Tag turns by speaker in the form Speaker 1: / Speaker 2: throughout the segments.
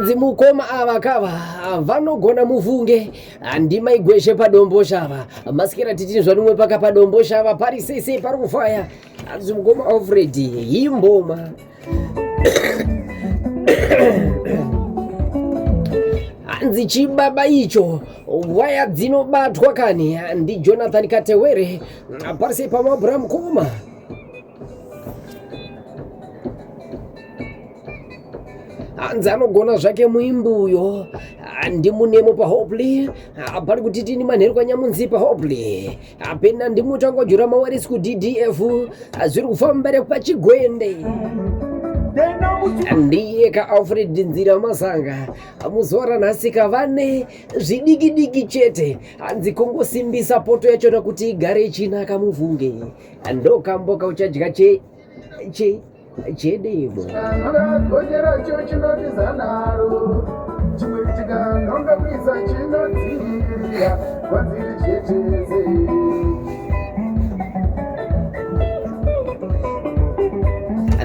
Speaker 1: hanzi mukoma ava kava vanogona muvunge handi maigweshe padombo shava masikira titini zvanumwe paka padombo shava pari sese pari kufaya Hanzi mukoma Alfred hii mboma hanzi chibaba icho waya dzinobatwa kani ndijonathan katewere parise pamabura mukoma hanzi anogona zvake muimbi uyo ndimunemo pahopley pari kuti tini manheru kwanyamunzi pahopley apena ndimutangojura mawarisi kuddf zviri kufamba repachigwende ndiye kaalfred nzira masanga muzora nhasika vane zvidikidiki chete hanzi kungosimbisa poto yachona kuti igare ichinaka muvhunge ndokamboka uchadya che Je, jedevo akagocheracho chinotiza naro chimwe chikanonga kuisa chinodzivirira kwadziri cheteze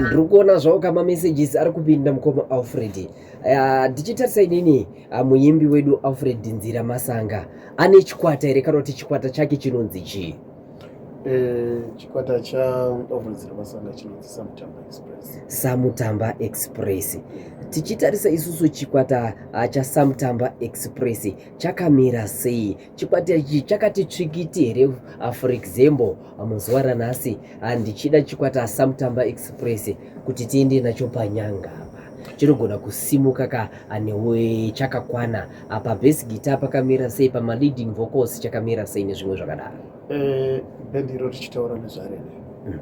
Speaker 1: ndiri kuona zvawo kama messages ari kupinda mukoma alfred ndichitarisa uh, inini uh, muimbi wedu alfred nzira masanga ane chikwata here kana kuti chikwata chake chinonzi chii Eh, chikwata
Speaker 2: chaovhuridzira masanga chinonzi
Speaker 1: samutamba express samutamba express tichitarisa isusu chikwata ah, chasamutamba express chakamira sei chikwata ichi chakati tsvikiti here ah, for example ah, muzuva ranhasi ndichida chikwata samutamba express kuti tiende nacho panyanga apa chinogona kusimuka ka newe chakakwana apa bass guitar pakamira sei pama leading vocals chakamira sei nezvimwe zvakadaro eh,
Speaker 2: bendiro tichitaura nezvarene mm.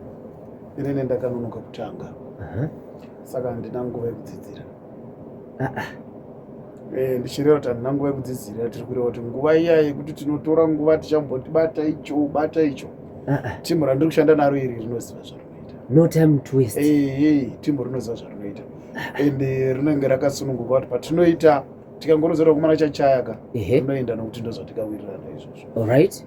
Speaker 2: inene ndakanonoka kutanga saka handina nguva yekudzidzira ah, ah. Eh, ndichireva kuti handina nguva yekudzidzira tiri kureva kuti nguva iya yekuti tinotora nguva tichamboti bata icho bata icho ah, timu randiri kushanda naro iri rinoziva zvarinoita no time to waste
Speaker 1: eh, eh, timu rinoziva
Speaker 2: zvarinoita ende rinenge rakasununguka kuti patinoita tikangorodzera kumana chachaya ka unoenda nokuti ndozvatikawirirana izvozvo orit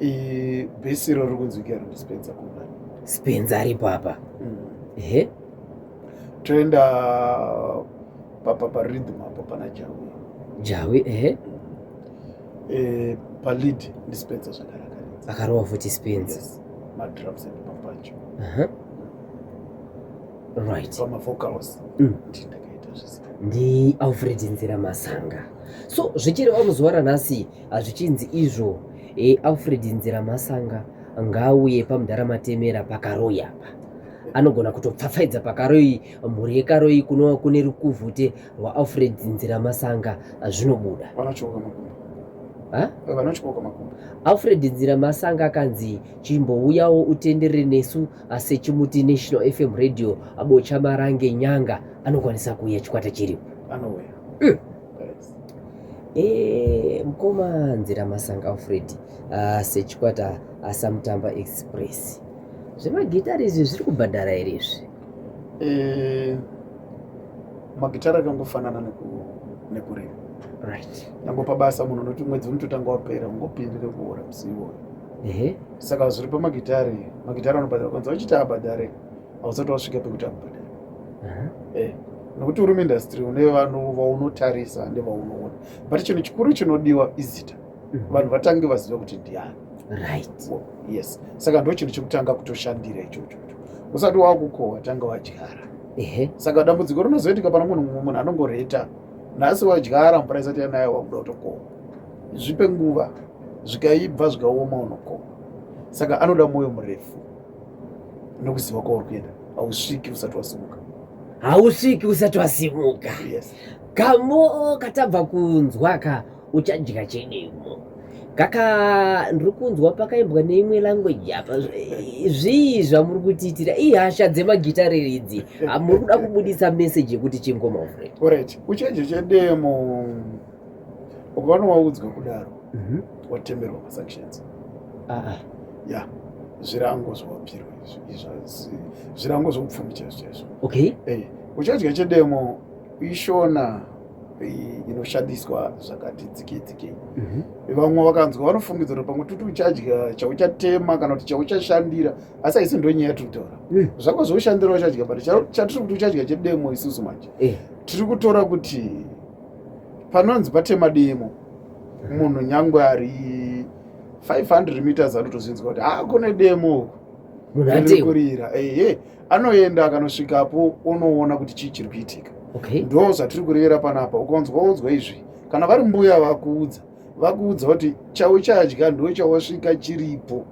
Speaker 1: bhesi iro
Speaker 2: riri kunzwika iro ndispenza kuda spenza ari
Speaker 1: papa mm. ehe
Speaker 2: toenda papa paridhim apo pana jawi jawi
Speaker 1: ehe eh,
Speaker 2: palid ndispenza zvakanaka akarova futi
Speaker 1: spenza madrums
Speaker 2: and mapacho
Speaker 1: right pamavocals
Speaker 2: mm. ndindakaita zvese ndi alfred
Speaker 1: nzira masanga so zvichireva muzuva ranhasi hazvichinzi izvo e, alfred nzira masanga ngaauye pamudhara matemera pakaroyi apa anogona kutopfapfaidza pakaroyi mhuri yekaroyi kunova kune rukuvhute rwaalfred nzira masanga zvinobuda
Speaker 2: vanatyoka makumbo Eh, alfred nzira
Speaker 1: masanga akanzi chimbouyawo utenderere nesu Asi chimuti National FM Radio abo chamarange nyanga anokwanisa kuuya chikwata chiripo. Anouya. Mm.
Speaker 2: Eh,
Speaker 1: mkoma nzira masanga Fred uh, ah, sechikwata asamutamba ah, express zvemagitari izvi zviri kubhadhara here izvi eh,
Speaker 2: magitari akangofanana nekurima right
Speaker 1: nangopa basa munhu
Speaker 2: unoti mwedzi unototanga wapera ungopindire kuora musiiwoyo saka zviri pamagitare magitare anobhadhara kwanza vachiti abhadhare hausati wasvika pekuti akubhadhara mhm. eh, nokuti uri muindastry une vanhu vaunotarisa nevaunoona but chinhu chikuru chinodiwa izita mhm. vanhu vatange vaziva kuti ndiani right oh,
Speaker 1: yes saka
Speaker 2: ndo chinhu chekutanga kutoshandira ichocho usati wakukohwa tanga wadyara saka dambudziko rinozoitika pana munhu mumwe munhu anongoreta nhasi wadyara mvura isati yanayo wakuda kutokohwa zvipe nguva zvikaibva zvikaoma unokoma saka anoda mwoyo murefu nokuziva kwauri kuenda hausviki usati wasimuka hausviki usati wasimuka yes.
Speaker 1: kamoo katabva kunzwa ka uchadya chedemo kaka ndiri kunzwa pakaimbwa neimwe language apa zvii zvamuri kutiitira ihasha dzemagitare idzi hamuri kuda kubudisa message yekuti chingoma uret uchanjo
Speaker 2: chedemo ukavana waudzwa kudaro mhm. watemerwa masanctions ya zvirango zvawapirwa zvirango zvoupfumi chaizvo chaizvo okay eh,
Speaker 1: uchadya
Speaker 2: chedemo ishona inoshandiswa zvakati dzikedzikei mhm. vamwe vakanzwa vanofungidzwa kuti pamwe tuti uchadya chauchatema kana kuti chauchashandira asi haisi ndo nyaya tiri kutaura mm. zvako zvoushandira uchadya but chatiri kuti uchadya chedemo isusu manje eh. tiri kutora kuti panonzi patema demo munhu nyangwe ari 500 meters anotozvinzwa kuti haa kune demo kurira ehe anoenda akanosvikapo onoona kuti chii chiri kuitika ndo zvatiri kurevera panapa ukanzwa waudzwa izvi kana vari mbuya vakuudza vakuudza kuti chauchadya ndo chawasvika chiripo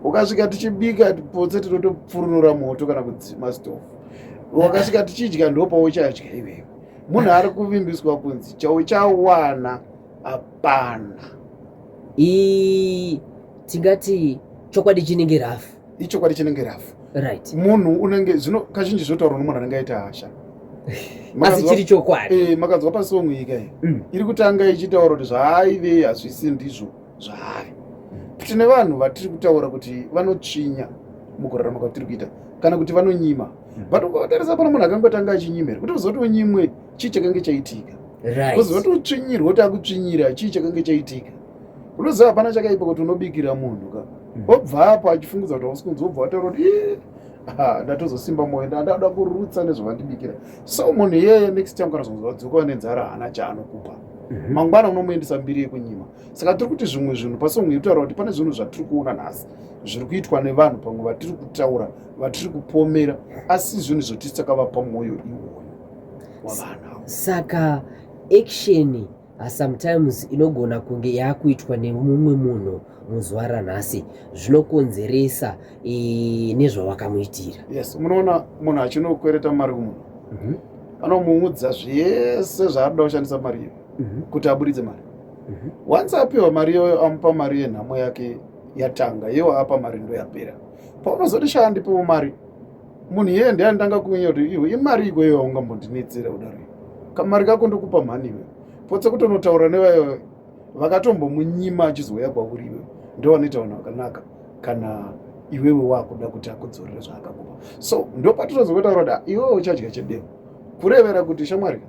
Speaker 2: ukasvika tichibika potse tinotopfurunura moto kana kudzima stofu wakasvika tichidya ndo pauchadya iwewe munhu ari kuvimbiswa kunzi chauchawana hapana ii
Speaker 1: tingati chokwadi chinenge rafu ichokwadi chinenge rafu
Speaker 2: right munhu
Speaker 1: unenge zvino
Speaker 2: kazhinji zvotaurwa nomunhu anenge aita hasha asi
Speaker 1: chiri chokwadi eh, makanzwa pasong ika
Speaker 2: mm. iri kutanga ichitaura kuti zvaaive hazvisi ndizvo zvaari tine vanhu vatiri kutaura kuti vanotsvinya mukurarama kwatiri kuita kana kuti vanonyima hmm. but ukavatarisa pano munhu akangotanga achinyima here kuti uzoti unyimwe chii chakange chaitika uzoti
Speaker 1: utsvinyirwe kuti
Speaker 2: akutsvinyira chii chakange chaitika unoziva hapana chakaipa kuti unobikira munhu ka hmm. obva apo achifungudza kuti hausi kunzi obva wataura kuti ndatozosimba moyo ndandada kurutsa nezvavandibikira so munhu iyeye next time kana zvonzi vadzoka vanenzara haana chaanokupa mhm. mangwana unomuendesa mbiri yekunyima saka tiri kuti zvimwe zvinhu pasong iyi kutaura kuti pane zvinhu zvatiri kuona nhasi zviri kuitwa nevanhu pamwe vatiri kutaura vatiri kupomera asi zvinhu zvotisi takavapa mwoyo iwoyo wavana saka
Speaker 1: action ah, sometimes inogona kunge yaakuitwa nemumwe munhu muzuva ranhasi zvinokonzeresa eh, nezvawakamuitira yes munoona munhu
Speaker 2: achinokwereta mari kumunhu mhm. anomuudza zvese zvaanoda kushandisa mari iyo mhm. kuti aburitse mari mhm. once apiwa mari iyoyo amupa mari yenhamo yake yatanga iye waapa mari ndoyapera paunozoti shaa ndipewo mari munhu iyeye ndiye anditanga kunyenya kuti iwe imari iko iyo aungambondinetsera kudaro kamari kako ndokupa mhani iwe potse kutonotaura nevayo vakatombomunyima achizouya kwauri iwe ndovanoita vanhu vakanaka kana iwewe wakuda kuti akudzorere zvaakakupa so ndopatinozokotaura kuti ah, iwewe uchadya chedemo kurevera kuti shamwari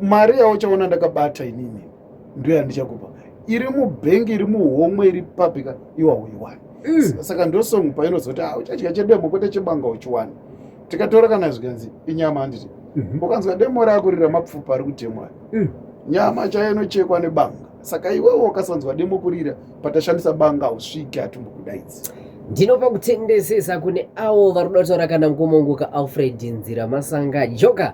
Speaker 2: mari yauchaona ndakabata inini ndiyo yandichakupa iri mubhengi iri muhomwe iri papika iwa uiwani mm. saka ndosong painozoti ah, uchadya chedemo kwete chebanga uchiwani tikatora kana zvikanzi inyama handiti mhm. ukanzwa demo rako riri ramapfupa ari kutemwa mm. nyama chayo inochekwa nebanga saka iwewo ukasanzwa demo kurira patashandisa banga hausviki hatumbokudaidzi ndinopa
Speaker 1: kutendesesa kune avo vari kuda kutaura kana ngomongoka alfred nzira masanga joka